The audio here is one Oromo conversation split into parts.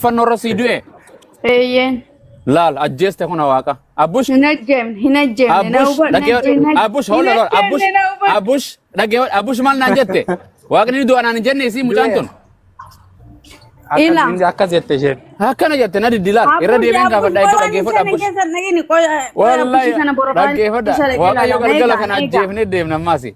Fannoo irra sii du'e Eeyyeen. laal ajjeeste kun waaqa. Abbush Hin ajjeemne, hin ajjeemne. Na Abbush hubadhu, na dhaggeeffadhu. ajjeemne. Abbush hold on. Abbush Hin ajjeemne, na hubadhu. Abbush dhaggeeffadhu. Abbush maal naan jette? Waaqni du'a naan hin jenne isii mucaan tun. Ila. Akkas jette isheen. Akkana jette na diddi laal. Irra deebiin gaafadha iddoo dhaggeeffadhu Abbush. Wallahi dhaggeeffadha. Waaqayyo galgala kana ajjeefnee deemna ammaasi.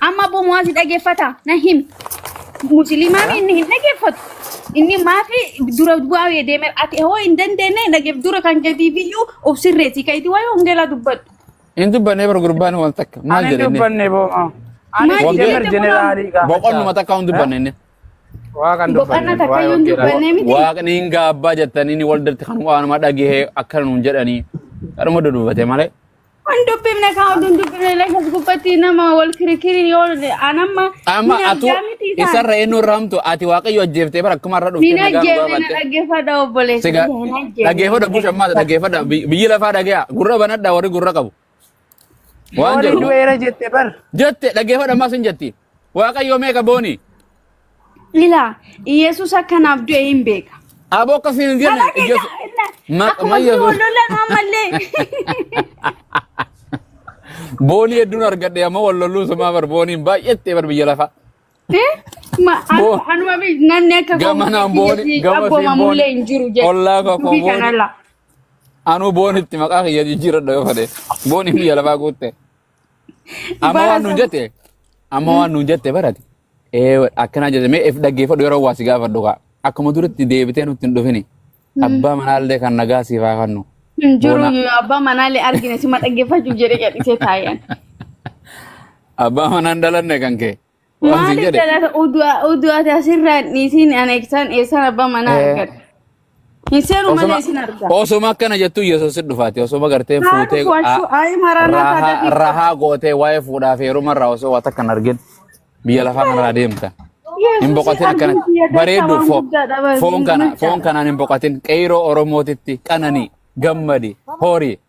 Amma abboo mu'aazi dhageeffata na himi. Musliimaa mi inni hin dhageeffatu. Inni maafi dura bu'aa deeme ati hoo hin dandeenye dhageef dura kan gadiif iyyuu of sirreessi ka'iiti waa'ee hongeelaa dubbadhu. Hin dubbannee bar gurbaan waan takka maal Ani jedhenne. dubbanne boo'a. Ani Maali Waggaa- jemer jechuun jeneraalii gaafachaa. Boqonnuma takka hin dubbanne inni. Waa kan Boqonnaa dubbanne. takka waa'ee yoo hin hojjetaa. dubbanne miti. Waaqni hin gaabbaa jettanii inni waldatti kan waanuma dhagahee akka nuun jedhanii. Kanuma dudubbate malee. Hin dubbifne kaa oduu hin dubbifne illee as gubbatti nama wal kirikiriin yoo anamma Amma hin atu argaa miti isaan. isarra eenyu irra hamtu ati waaqayyo ajjeeftee bara akkuma irra dhuftee Hin nagaa nu ajjeefne na gaafaatte. dhaggeeffadha obboleessa Siga kiyya hin ajjeefne dhaggeeffadha hin busha maata ajjeefne. dhaggeeffadha Bi- biyyi lafaa dhagaya gurra banadha warri gurra qabu waan Yooni jedhu du'eera jette bar. jette dhaggeeffadha maas hin jetti. Waaqayyoo meeqa boonii? Ilaa, Iyeesuus akka naaf du'e hin beeka. Aboo akka siin hin jenne. Mataa keenya Iyyoosu- innaa- Ma- akkuma mayya sun boo- wal lollan ammallee. Boonii hedduun argadhe ammoo wal lolluu sumaa bar booniin baay'eetti bar biyya lafaa. Eh, ma- anu- Boo- anuma bi- namni akka koo Gama naan biyya booni- kiyya gama siin abboomamullee booni. hin jiru jedhe. Ollaa koo Dubbii booni. kanarraa. Anuu boonitti maqaa kiyya jijjiiradha yoo fedhe. Booniin biyya lafaa guutte. Amma waan nuun jette amma waan nuun jette barate ee akkanaa jette mee if dhaggeeffadhu yeroo waa si gaafadhu kaa akkuma duritti deebitee nutti hin dhufini abbaa manaallee kan nagaa siif haa kennu Hin jiru Boona. yoo abbaa manaallee argine sima dhaggeeffachuuf jedhee gadhisee taa'een. abbaa manaan dhalanne kan kee Waan siin Maaliif jedhe. jalata oduu ati asirraa hin dhiisin ana eegsan eessan abbaa manaa Eh, argadha. Hin seenu malee Osoma isin arga. osoma akkana jettu Yesuus hin dhufaati. Osoma gartee Haa fuutee dhufu ashuu ayi maraanaa rahaa taatatiif qofa. rahaa gootee waa'ee fuudhaa fi heeruma irraa osoo waa takka hin argin biyya lafaa kanarraa deemta. Hin Yesuusiin boqotin argin akkana biyya keessa bareeddu waan fo- guddaadha foon kana foon micha. kanaan hin boqotin qeyroo Oromootitti qananii gammadi horii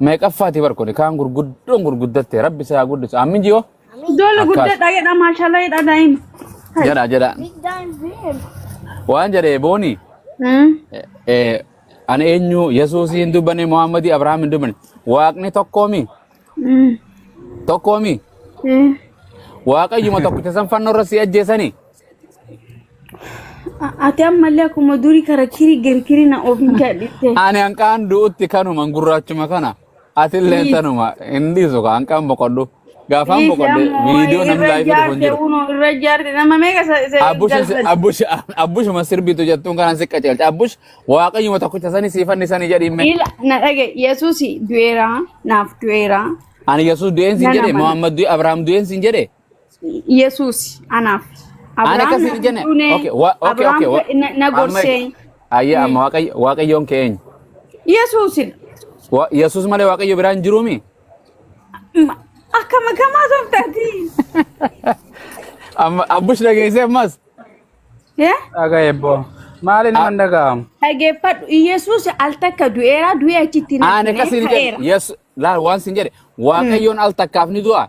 meeqaffaati bar kuni kaan gurguddoon gurguddatte rabbi si haa guddisu ammin ji'oo Ijoollee Akkas. guddaadha jedha maashaallah jedha daa'ima. jedha jedha Big dime beard. waan jedhe booni Hmm. eh, ani eenyu yesuusii hin dubbanne muhammadii abrahaam hin dubbanne waaqni tokkoomi Hmm. tokkoomi Eh. waaqayyuma tokkicha san fannoo irra si ajjeesanii Ati ammallee akkuma durii kara kiri gari kiri na ofiin jaadhitte. Ani hanqaan du'utti kanuma gurraachuma kana. Atillee Please. tanuma hin dhiisu ka hanqaan boqodhu. Gaafaan Dhiisi boqodhe ammoo viidiyoo namni irra laayifii dhufu hin jaarte jiru. unoo irra jaarte nama meeqa se- se- Abbush galfate. abbush abbushuma sirbitu jettuun kanaan si qajeelcha. Abbush waaqayyuma tokkicha sani sii fannisani jedhimme. Ila na dhage Yesuusi du'eera naaf du'eera Ani Yesuus du'een sin nan jedhe amana. Muhammad du'e Abrahaam du'een sin jedhe. Yesuus anaaf. Ana Abrahaam akkasii naaf hin jenne. duune. Okay, wa- okay, Abrahaam okay. wa- ka- na- na Amma gorsee. ayya amma Waaqayyo- waaqayyoon kee eenyu? Yesuusin. Wa- Yesuus malee waaqayyo biraa hin jiruumi? Ma- Akka makamaa sooftaati. Amma abbush dhageessee ammas. Eh? Dhagaa eebboo. Maali nama hin dhaga'amu? Dhageeffadhu. Yesuus al takka du'eera du'ee achitti hin Ana hafne, akkasii hin ka'eera. jenne. Yesu- Laal waan sin jedhe. Waaqayyoon al takkaaf ni du'a.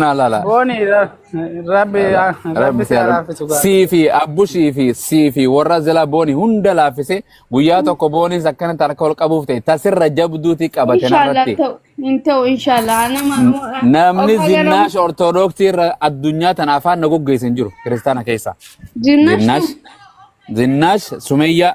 Naa laala. Booni ra- rabbi Laala. rabbi Rabbi si si haa haa laaffisu gaa. sii fi abbushii fi sii fi warra zila booni hunda laaffise guyyaa tokko booniis akkanatti harka ol qabuuf ta'e tasirra jabduuti qabate Inshallah narratti. ta'u hin ta'u inshallah anama N- ammoo of Namni agaramu zinnaash ortodoksii irra addunyaa tana afaan na goggeessan jiru kiristaana keessaa. Zinnaash Zinnaash, Zinnaash, Sumayyaa.